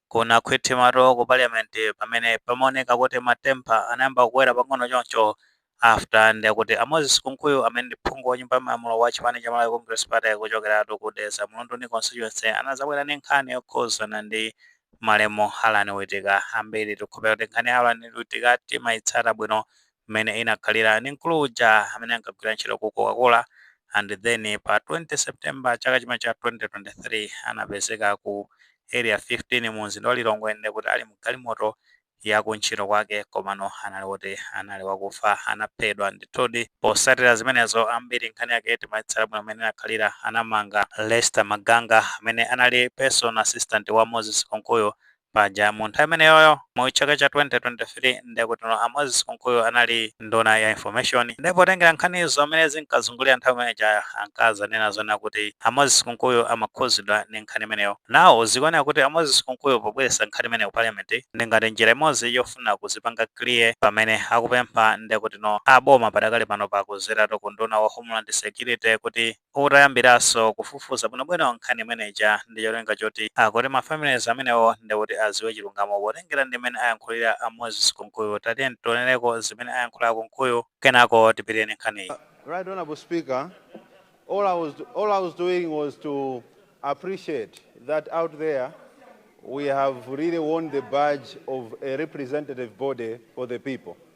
kunakhwimitsatu ku parliament pamene pamaoneka kuti ma temper anayamba kukwera pang'ono choncho after ndekuti a Moses Kunkuyu amene ndi phungu wa nyumba ya malamulo wa chipani cha Malawi Congress Party kuchokeratu ku Dedza Mlunduni constituency anazabwera ndi nkhani yokhuzana ndi malemu Allan Witika ambiri tikukhulupirira kuti nkhani ya Allan Witika timayitsata bwino mmene inakhalira ndi mkulu uja amene ankagwira ntchito ku Coca-Cola and then pa 20 September chaka chimene cha 2023 anapezeka ku Area 15 mu mzinda wa Lilongwe ndekuti ali mgalimoto ya kuntchito kwake komano anali woti anali wakufa anaphedwa ndithudi posatira zimenezo ambiri nkhani yake timayitsata bwino mmene inakhalira anamanga Lester Maganga amene anali personal assistant wa Moses Kunkuyu Paja mu nthawi imeneyoyo mu chaka cha 2023 ndekutino a Moses Kunkuyu anali nduna ya information nde potengera nkhanizo mmene zinkazungulira nthawi imene ija ankazanena zonena kuti a Moses Kunkuyu amakhuzidwa ndi nkhani imeneyo. Now zikuoneka kuti a Moses Kunkuyu pobweretsa nkhani imeneyo ku parliament ndi ngati njira imodzi yofuna kuzipanga clear pamene akupempha ndekutino a boma padakali panopa kuzeratu ku unduna wa homeland security kuti utayambiranso kufufuza bwinobwino nkhani imene ija ndi cholinga choti akuti ma families amenewo ndekuti aziwe chilungamo potengera ndi mmene ayankhulira a Moses Kunkuyu tatiyeni tionereko zimene ayankhula a Kunkuyu kenako tipitire ndi nkhaniyi. Right Honourable Speaker, all I was all I was doing was to appreciate that out there we have really worn the badge of a representative body for the people.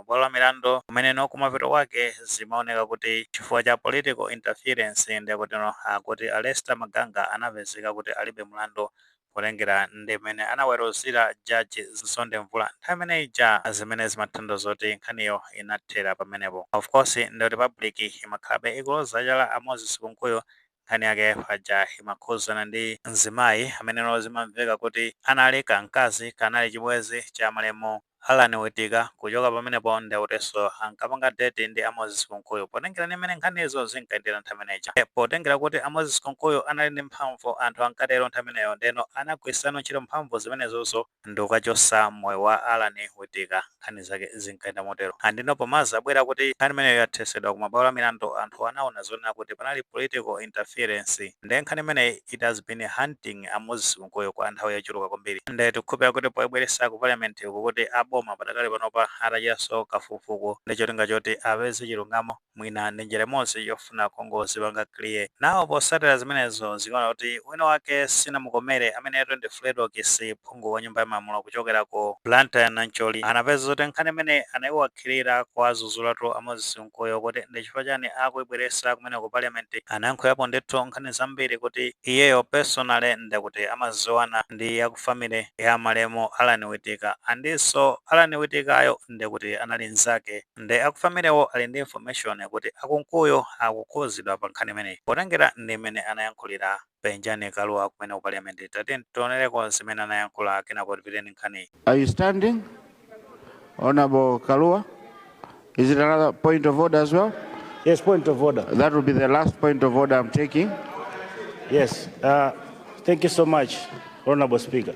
ku mabwalo a milandu kumeneno kumapeto kwake zimaoneka kuti chifukwa cha political interference ndekutino akuti a Lester Maganga anapezeka kuti alibe mlandu potengera ndi mmene anaweruzira judge Mzonde Mvula nthawi imene ija zimene zimathandauza kuti nkhaniyo inathera pamenepo. Of course ndekuti public imakhalabe ikuloza chala a Moses Kunkuyu Nkhani yake paja imakhuzana ndi mzimayi ameneno zimamveka kuti anali ka mkazi kanali chibwezi cha malemu Allan Witika kuchoka pamenepo ndekutinso ankapanga date ndi a Moses Kunkuyu potengera ndi mmene nkhanizo zinkayendera nthawi imene ija nde potengera kuti a Moses Kunkuyu anali ndi mphamvu anthu ankatero nthawi imeneyo ndeno anagwiritsano ntchito mphamvu zimenezozo ndikukachotsa moyo wa Allan Witika, nkhani zake zinkayenda motero. Ah, ndiyeno pomazabwera kuti nkhani imeneyo yathetsedwa ku mabwalo a milandu, anthu anaona zonena kuti panali political interference. Ndiye nkhani imeneyi it has been haunting a Moses Kunkuyu kwa nthawi yochuluka kwambiri and tikukhulupirira kuti poibweretsa ku Parliament uku kuti a boma padakali panopa atachitanso kafukufuku ndi cholinga choti apeze chilungamo. Mwina ndi njira imodzi yofuna kungozipanga clear. Now posatira zimenezo zikuoneka kuti wina wake sinamukomere ameneyotu ndi Fredokiss phungu wa nyumba ya malamulo kuchokera ku Blantyre Nancholi anapeza zoti nkhani imene anaiwakhilira kuwazuzulatu a Moses Kunkuyu kuti ndi chifukwa chani akuibweresa kumene ku parliament anayankhulapo ndithu nkhani zambiri kuti iyeyo personally ndekuti amaziwana ndi a ku family ya malemu Allan Witika andinso Allan Witikayo ndekuti anali nzake ndi aku family wo ali ndi information kuti a Kunkuyu akukhuzidwa pa nkhani imeneyi potengera ndi mmene anayankhulira Penjani Kalua kumene ku Parliament, tatiyeni tionereko zimene anayankhula kenako tipitire ndi nkhaniyi. Are you standing Hon. Kalua? Is it another point of order as well? Yes, point of order. That will be the last point of order I'm taking. Yes, uh, thank you so much, Honorable Speaker.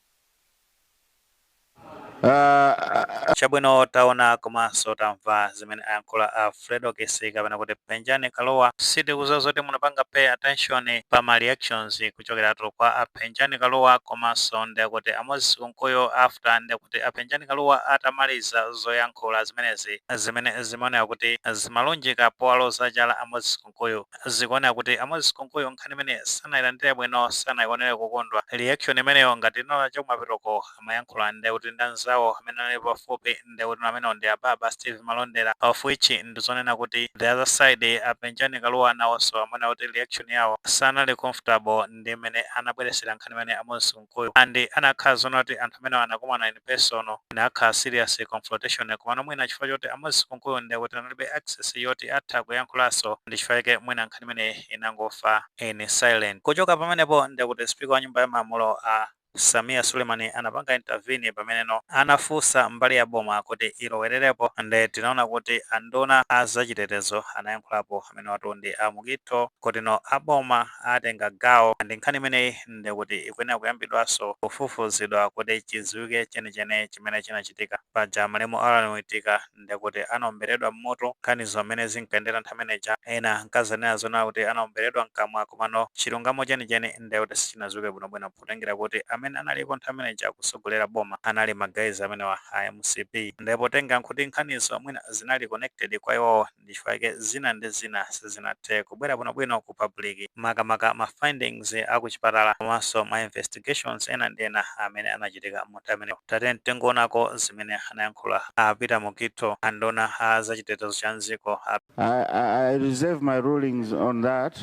Ah, Chabwino taona komanso tamva zimene ayankhula a Fredokiss kapena kuti Penjani Kalua sitikudziwa zoti munapanga pay attention pa ma reactions kuchokeratu kwa a Penjani Kalua komanso ndekuti a Moses Kunkuyu after ndekuti a Penjani Kalua atamaliza zoyankhula zimenezi zimene zimaoneka kuti zimalunjika powaloza chala a Moses Kunkuyu Kunkuyu. Zikuoneka kuti a Moses Kunkuyu nkhani imeneyi sanailandire bwino, sanaionere kukondwa. Reaction imeneyo ngati munaona chakumapetoko amayankhula nde kuti ndi anzawo amene anali pafupi nde kuti amenewo ndi a Baba Steve Malondera of which ndi zonena kuti the other side a Penjani Kalua nawonso amaoneka kuti reaction yawo sanali comfortable ndi mmene anabweretsera nkhani imene a Moses Kunkuyu and anakhala zoona kuti anthu amenewa anakumana in person inakhala serious confrontation komano mwina chifukwa choti a Moses Kunkuyu ndekuti analibe access yoti atha kuyankhulanso ndi chifukwa chake mwina nkhani imeneyi inangofa in silent. Kuchoka pamenepo ndekuti speaker wa nyumba ya malamulo a Sameer Suleiman anapanga intervene pameneno anafunsa mbali ya boma kuti ilowererepo nde tinaona kuti anduna a zachitetezo anayankhulapo amenewatu ndi a Mukhito kuti no a boma atenga gawo and nkhani imeneyi ndekuti ikuyenera kuyambidwanso kufufuzidwa kuti chidziwike chenicheni chimene chinachitika. Paja malemu Allan Witika ndekuti anaomberedwa m'mutu, nkhanizo mmene zinkayendera nthawi imene ija, ena ankadzanena zonena kuti anaomberedwa m'kamwa komano chilungamo chenicheni ndekuti sichinadziwike bwinobwino potengera kuti amene analipo nthawi imene ija kutsogolera boma anali ma guys amenewa a mcp nde potengera nkuti nkhanizo mwina zinali connected kwa iwowo ndichifukwa chake zina ndi zina sizinathe kubwera bwinobwino ku public makamaka ma findings a ku chipatala komanso ma investigations ena ndi ena amene anachitika mu nthawi imeneyo. Tatiyeni tingoonako zimene anayankhula a Peter Mukhito, anduna a za chitetezo cha m'dziko a. I, I, I reserve my rulings on that.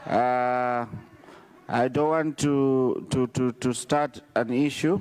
Uh, I don't want to, to, to, to start an issue.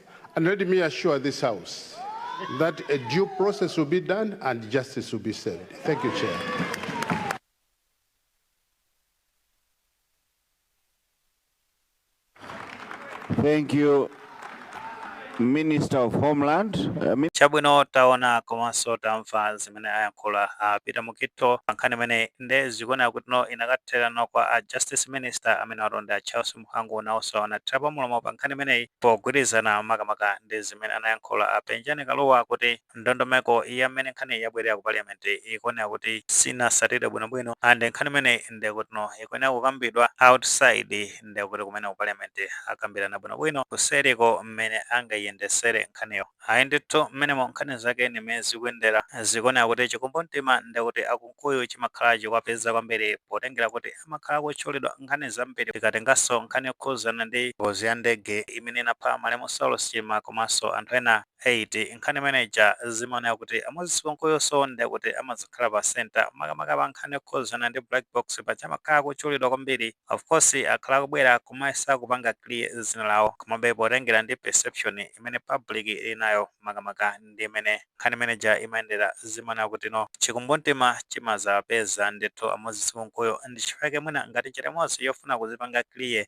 And let me assure this house that a due process will be done and justice will be served. Thank you, Chair. Thank you, Minister of Homeland. Chabwino taona komanso tamva zimene ayankhula a Peter Mukhito pankhani imene nde zikuoneka kuti no inakatherano kwa a justice minister amene ali a Charles Mhango nawonso anathira pamulomo pa nkhani imeneyi pogwirizana makamaka ndi zimene anayankhula a Penjani Kalua kuti ndondomeko ya mmene nkhaniyi yabwerera ku Parliament ikuonetsa kuti sinasatidwe bwinobwino and nkhani imeneyi nde kutino ikuyenera kukambidwa outside nde kuti kumene ku Parliament akambirana bwinobwino kuseriko mmene angayiyendesere nkhaniyo. Ayi ndithu mmenemo nkhani zake ndi mmene zikuyendera zikuoneka kuti chikumbumtima nde kuti a Kunkuyu chimakhala chikuwapeza kwambiri potengera kuti amakhala akutchulidwa m'nkhani zambiri tikatenganso nkhani yokhudzana ndi ngozi ya ndege imene inapha malemu Saulos Chilima komanso anthu ena 8 nkhani imene ija zimaoneka kuti a Moses Kunkuyunso nde kuti amadzakhala pa centre makamaka pa nkhani yokhudzana ndi black box paja amakhala akutchulidwa kwambiri Of course akhala akubwera kumayesa kupanga clear zina lawo komabe potengera ndi perception imene public ili nayo makamaka ndi mmene nkhani imene ija imayendera zimaoneka kuti no chikumbumtima chimadzawapeza ndithu a Moses Kunkuyu ndichifukwa chake mwina ngati njira imodzi yofuna kuzipanga clear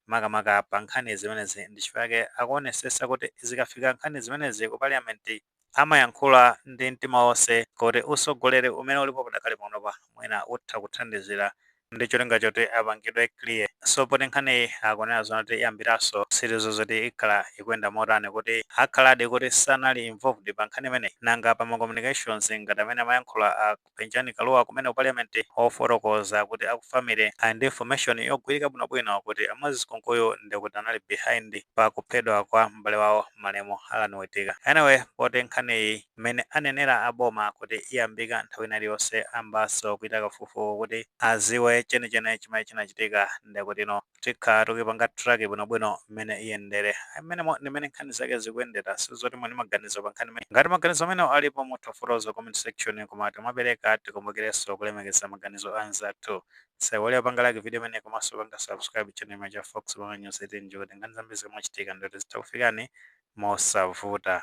makamaka pa nkhani zimenezi ndichifukwa chake akuonesesa kuti zikafika nkhani zimenezi ku parliament amayankhula ndi mtima onse kuti usogoleri umene ulipo padakali panopa mwina utha kuthandizira ndi cholinga choti apangidwe clear so poti nkhaniyi akunena zonati iyambiraso sitidziwa zoti ikhala ikuyenda motani kuti akhaladi kuti sanali involved pa nkhani imeneyi nanga pa ma communications ngati amene amayankhula a Penjani Kalua kumene ku Parliament ofotokoza kuti aku family ali ndi information yogwirika bwinobwino kuti a Moses Kunkuyu ndekuti anali behind pa kuphedwa kwa m'bale wawo malemu Allan Wittika. Anyway poti nkhaniyi mmene anenera a boma kuti iyambika nthawi ina iliyonse ayambanso kuchita kafukufuku kuti aziwe chenicheni chimene chinachitika ndekutino. tikhala tikupanga track bwinobwino mmene iyendere mmenemo ndi mmene nkhani zake zikuyendera sitidziwa kuti muli ndi maganizo pa nkhani imene ngati maganizo amenewo alipo mutha kufotokoza mu comment section koma tikamapereka tikumbukirenso kulemekeza maganizo anzathu musaiwale kupanga like video imene komanso kupanga subscribe channel imene cha fox pamene nyonse tinji kuti nkhani zambiri zikamachitika ndithu zitha kukufikani mosavuta